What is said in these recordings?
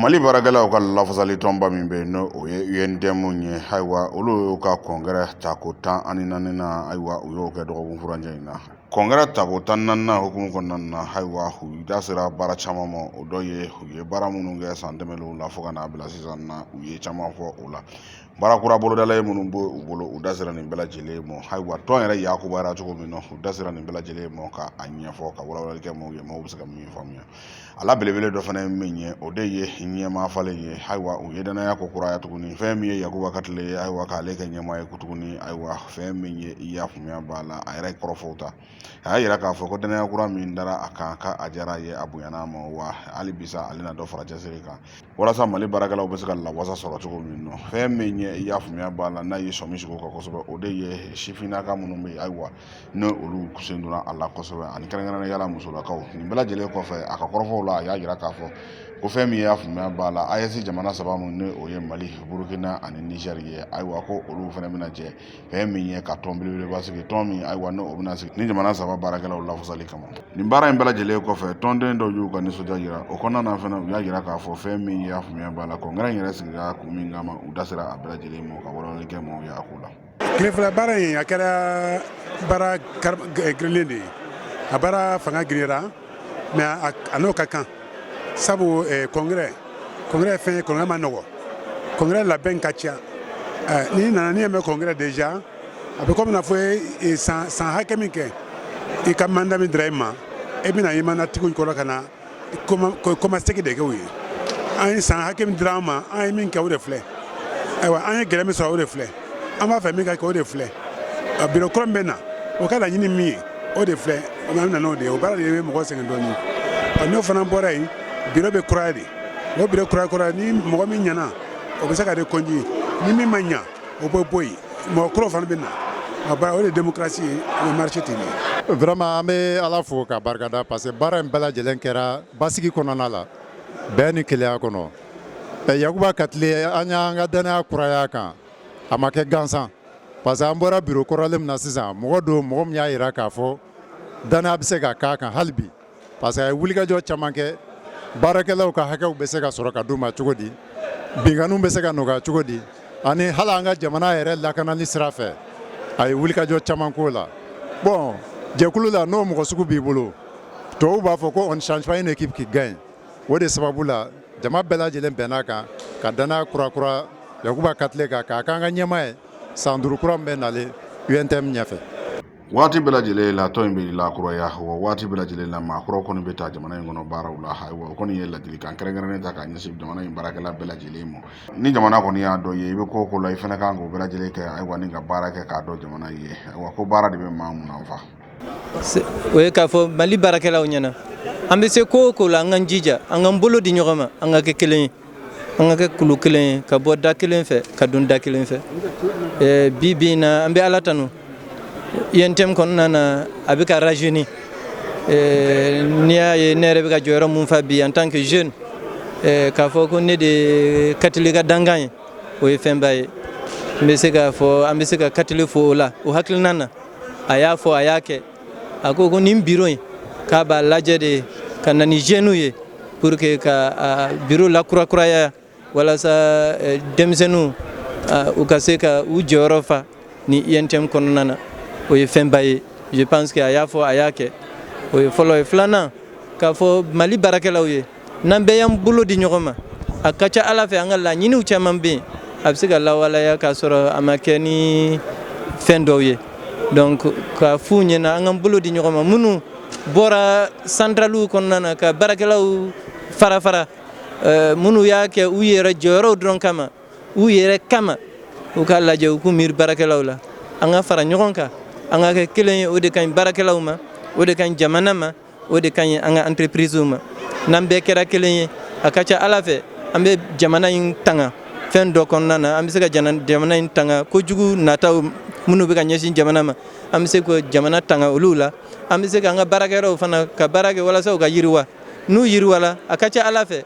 mali baarakɛlaw ka lafasali tɔnba min bɛ yen n'o o ye untm ye ayiwa olu y'u ka kɔnkɛrɛ tako tan ani naaninan ayiwa u y'o kɛ dɔgɔkun furancɛ in na kɔnkɛrɛ tako tan naaninan hukumu kɔnɔna na ayiwa u da sera baara caman ma o dɔ ye u ye baara minnu kɛ san tɛmɛnlenw la fo ka n'a bila sisan na u ye caman fɔ o la baara kura bolodalen minnu b'u bolo u da sera nin bɛɛ lajɛlen mɔ ayiwa tɔn yɛrɛ a kunbayara cogo min na u da sera nin bɛɛ lajɛlen mɔ ka a ɲɛfɔ ka walawalali kɛ mɔgɔw ye mɔgɔw bɛ se ka min faamuya a la belebele dɔ fana ye min ye o de ye ɲɛmaa falen ye ayiwa u ye dannaya kokuraya tuguni fɛn min ye yakuba katile ayiwa k'ale kɛ ɲɛmaa ye ko tuguni ayiwa fɛn min ye i y'a faamuya b'a la a yɛrɛ kɔrɔfɔw ta a y'a yira k'a fɔ ko dannaya kura min dara a kan ka a diyara a ye a bonyana a ma wa hali bi sa ale na dɔ fara cɛsiri kan walasa mali baarakɛlaw bɛ se ka lawasa sɔrɔ cogo min nɔ fɛn min ye i y'a faamuya b'a la n'a ye sɔmi sigi o kan kosɛbɛ o de ye sifinnaka minnu bɛ yen ayiwa ni olu sen donna a la kosɛbɛ ani kɛrɛnkɛrɛnnenya la musolakaw nin bɛɛ lajɛlen kɔfɛ a ka kɔrɔfɔw la a y'a yira k'a fɔ ko fɛn min y'a faamuya b'a la aes jamana saba min ni o ye mali burukina ani nizɛri ye ayiwa ko olu fana bɛna jɛ fɛn min ye ka tɔn belebeleba sigi tɔn min ayiwa ni o bɛna sigi nin jamana saba baarakɛlaw lafasali kama nin baara in bɛɛ lajɛlen kɔfɛ tɔnden dɔw y'u ka nisɔndiya jira o kɔnɔna na fana u y'a jira k'a fɔ fɛn min y'a faamuya b'a la kɔnkɛrɛ in yɛrɛ sigira kun min kama u da sera a bɛɛ lajɛlen ma ka walawalali kɛ maaw ye a ko la tile fila baara in a kɛra baara giriyalen de ye a baara fanga giriyara mais a n'o ka kan sabu congrès congrès fɛn ye congrès man nɔgɔ congrès labɛn ka ca n'i nana n'i y'a mɛn congrès déjà a bɛ kɔmi n'a fɔ i ye san hakɛ min kɛ i ka manda min dira i ma e bɛna i manda tigi kɔrɔ ka na kɔmasegin de kɛ u ye an ye san hakɛ min dira an ma an ye min kɛ o de filɛ ayiwa an ye gɛlɛya min sɔrɔ o de filɛ an b'a fɛ min ka kɛ o de filɛ a biro kura min bɛ na o ka laɲini min ye o de filɛ o bɛ nana o de ye o baara de ye mɔgɔ sɛgɛn dɔɔnin a n'o fana bɔra yen biro bɛ kuraya de o biro kura ni mɔgɔ min ɲɛna o bɛ se ka reconduit ni min ma ɲɛ o bɛ bɔ yen mɔgɔ kura fana bɛ na a ba o de démocratie ye o bɛ marcher ten vraiment an bɛ ala fo k'a barika da parce que baara in bɛɛ lajɛlen kɛra basigi kɔnɔna la bɛn ni kelenya kɔnɔ yakuba katile an y'an ka dannaya kuraya a kan a ma kɛ gansan parce que an bɔra biro kɔrɔlen min na sisan mɔgɔ don mɔgɔ min y'a jira k'a fɔ dannaya bɛ se ka k'a kan hali bi parce que a ye wulikajɔ caman kɛ baarakɛlaw ka hakɛw bɛ se ka sɔrɔ ka d'u ma cogo di binkanniw bɛ se ka nɔgɔya cogo di ani hali an ka jamana yɛrɛ lakanali sira fɛ a ye wulikajɔ caman k'o la bon jɛkulu la n'o mɔgɔ sugu b'i bolo tɔw b'a fɔ ko on change pas une équipe qui gagne o de sababu la jama bɛɛ lajɛlen bɛnna a kan ka danaya kurakura yakuba katile kan k'a k'an ka ɲɛmaa ye san duuru kura min bɛ nalen untm ɲɛfɛ waati bɛɛ lajɛlen la tɔn in bɛ lakuraya wa waati bɛɛ lajɛlen la maa kura kɔni bɛ ta jamana in kɔnɔ baaraw la ayiwa o kɔni ye ladilikan kɛrɛnkɛrɛnnen ta k'a ɲɛsin jamana in baarakɛla bɛɛ lajɛlen ma ni jamana kɔni y'a dɔn ye i bɛ ko ko la i fana kan k'o bɛɛ lajɛlen kɛ ayiwa ni ka baara kɛ k'a dɔn jamana ye ayiwa ko baara de bɛ maa mun na o ye k'a fɔ mali baarakɛlaw ɲɛna an bɛ se ko o ko la an k'an jija an k'an bolo di ɲɔgɔn ma an ka kɛ kelen ye an ka kɛ kulu kelen ye ka bɔ da kelen fɛ ka don da kelen fɛ eh, bi bi in na an bɛ ala tanu UNTM kɔnɔna na a bɛ ka rajeuni eh, n'i y'a ye ne yɛrɛ bɛ ka jɔyɔrɔ mun fa bi en tant que jeune eh, k'a fɔ ko ne de ye katile ka dankan ye o ye fɛnba ye n bɛ se k'a fɔ an bɛ se ka katile fo o la o hakilinan na a y'a fɔ a y'a kɛ a ko ko nin biro in k'a b'a lajɛ de ka na ni jeunes ye pour que ka biro lakurakuraya walasa eh, denmisɛnninw u ka se ka u jɔyɔrɔ fa ni UNTM kɔnɔna na o ye fɛnba ye je pense que a y'a fɔ a y'a kɛ o ye fɔlɔ ye filanan k'a fɔ Mali baarakɛlaw ye n'an bɛɛ y'an bolo di ɲɔgɔn ma a ka ca ala fɛ an ka laɲiniw caman bɛ yen a bɛ se ka lawaleya k'a sɔrɔ a ma kɛ ni fɛn dɔw ye donc ka f'u ɲɛna an k'an bolo di ɲɔgɔn ma minnu bɔra santaraliw kɔnɔna na ka baarakɛlaw fara fara eh, minnu y'a kɛ u yɛrɛ jɔyɔrɔw dɔrɔn kama u yɛrɛ kama u k'a lajɛ u k'u miiri baarakɛlaw la an ka fara ɲɔgɔn kan an ka kɛ kelen ye o de ka ɲi baarakɛlaw ma o de ka ɲi jamana ma o de ka ɲi an ka entreprise ma n'an bɛɛ kɛra kelen ye a ka ca ala fɛ an bɛ jamana in tanga fɛn dɔ kɔnɔna na an bɛ se ka jamana in tanga kojugu nataw minnu bɛ ka ɲɛsin jamana ma an bɛ se ka jamana tanga olu la an bɛ se ka an ka baarakɛyɔrɔw fana ka baara kɛ walasa u ka yiriwa n'u yiriwala a ka ca ala fɛ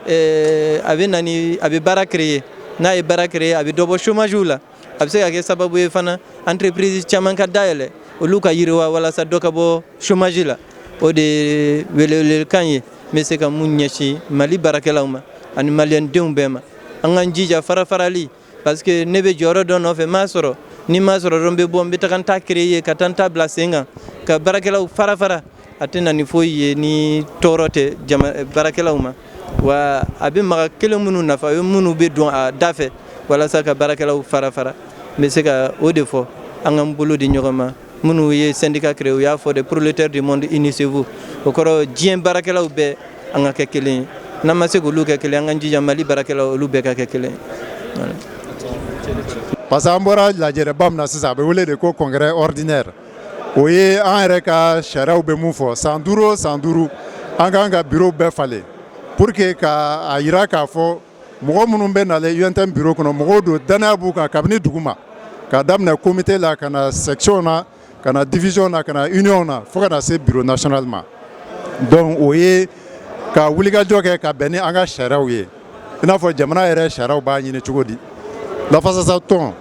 eh, a bɛ na ni a bɛ baara créer n'a ye baara créer a bɛ dɔ bɔ chômage la a bɛ se ka kɛ sababu ye fana entreprise caman ka dayɛlɛ olu ka yiriwa walasa dɔ ka bɔ chômage la o de ye welewelekan ye n bɛ se ka mun ɲɛsin Mali baarakɛlaw ma ani maliyɛndenw bɛɛ ma an k'an jija farafarali parce que ne bɛ jɔyɔrɔ dɔ nɔfɛ n m'a sɔrɔ ni n m'a sɔrɔ dɔrɔn n bɛ bɔ n bɛ taga n ta créer ka taa n ta bila sen kan ka baarakɛlaw fara fara a tɛ na ni foyi ye ni tɔɔrɔ tɛ jama baarakɛlaw ma wa a bɛ maa kelen minnu nafa o ye minnu bɛ don a da fɛ walasa ka baarakɛlaw fara fara n bɛ se ka o de fɔ an k'an bolo di ɲɔgɔn ma minnu ye syndicat créé u y'a fɔ de prolétaires du monde unissez-vous o kɔrɔ diɲɛ baarakɛlaw bɛɛ an ka kɛ kelen ye n'an ma se k'olu kɛ kelen an k'an jija mali baarakɛlaw olu bɛɛ ka kɛ kelen parce que an bɔra lajɛrɛba min na sisan a bɛ wele de ko congrès ordinaire o ye an yɛrɛ ka sariyaw bɛ mun fɔ san duuru o san duuru an k'an ka bureau bɛɛ falen pour que ka a jira k'a fɔ mɔgɔ minnu bɛ na UNTM bureau kɔnɔ mɔgɔw don danaya b'u kan kabini duguma ka daminɛ comité la ka na section na ka na division na ka na union na fo ka na se bureau national ma donc o ye ka wulikajɔ kɛ ka bɛn ni an ka sariyaw ye i n'a fɔ jamana yɛrɛ sariyaw b'a ɲini cogo di lafasatɔn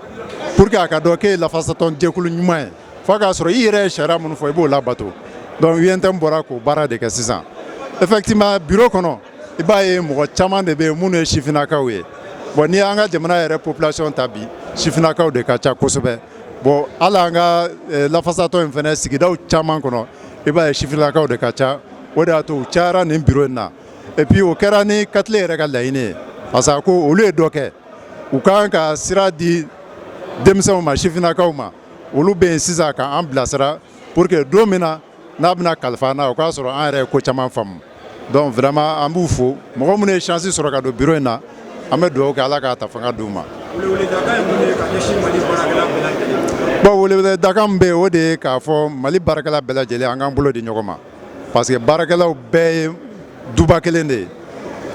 pour que a ka dɔn k'e ye lafasatɔn jɛkulu ɲuman ye fo k'a sɔrɔ i yɛrɛ ye sariya minnu fɔ i b'o labato donc UNTM bɔra k'o baara de kɛ sisan effectivement bureau kɔnɔ i b'a ye mɔgɔ caman de bɛ yen minnu ye sifinnakaw ye bon n'i y'an ka jamana yɛrɛ population ta bi sifinnakaw de ka ca kosɛbɛ bon hali an ka eh, lafasatɔn in fana sigidaw caman kɔnɔ i b'a ye sifinnakaw de ka ca o de y'a to u cayara nin bureau in na et puis o kɛra ni katile yɛrɛ ka laɲini ye parce que a ko olu ye dɔ kɛ u ka kan ka sira di denmisɛnw ma sifinnakaw ma olu bɛ yen sisan k'an bilasira pour que don min na n'a bɛna kalifa an na o k'a sɔrɔ an yɛrɛ ye ko caman faamu Donc vraiment an b'u fo mɔgɔ minnu ye chance sɔrɔ ka don bureau in na an bɛ dugawu kɛ Ala k'a ta fanga d'u ma. Bon weleweledakan min bɛ yen o de ye k'a fɔ Mali baarakɛla bɛɛ lajɛlen an k'an bolo di ɲɔgɔn ma parce que baarakɛlaw bɛɛ ye duba kelen de ye,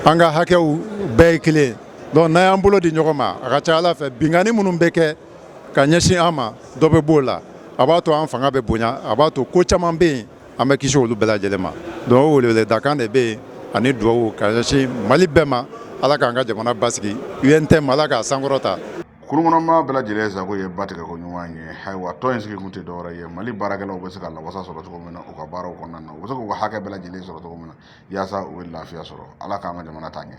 an ka hakɛw bɛɛ ye kelen donc n'an y'an bolo di ɲɔgɔn ma a ka ca Ala fɛ binkanni minnu bɛ kɛ ka ɲɛsin an ma dɔ bɛ b'o la a b'a to an fanga bɛ bonya a b'a to ko caman bɛ yen an bɛ kisi olu bɛɛ lajɛlen ma donc o weleweledakan de bɛ yen ani dugawu ka ɲɛsin mali bɛɛ ma ala k'an ka jamana basigi UNTM ala k'a sankɔrɔta Kurunkɔnɔmaa bɛɛ lajɛlen sago ye ba tigɛ ko ɲuman ye ayiwa tɔn in sigikun tɛ dɔwɛrɛ ye mali baarakɛlaw bɛ se ka lawasa sɔrɔ cogo min na u ka baaraw kɔnɔna na u bɛ se k'u ka hakɛ bɛɛ lajɛlen sɔrɔ cogo min na yaasa u bɛ lafiya sɔrɔ ala k'an ka jamana taa ɲɛ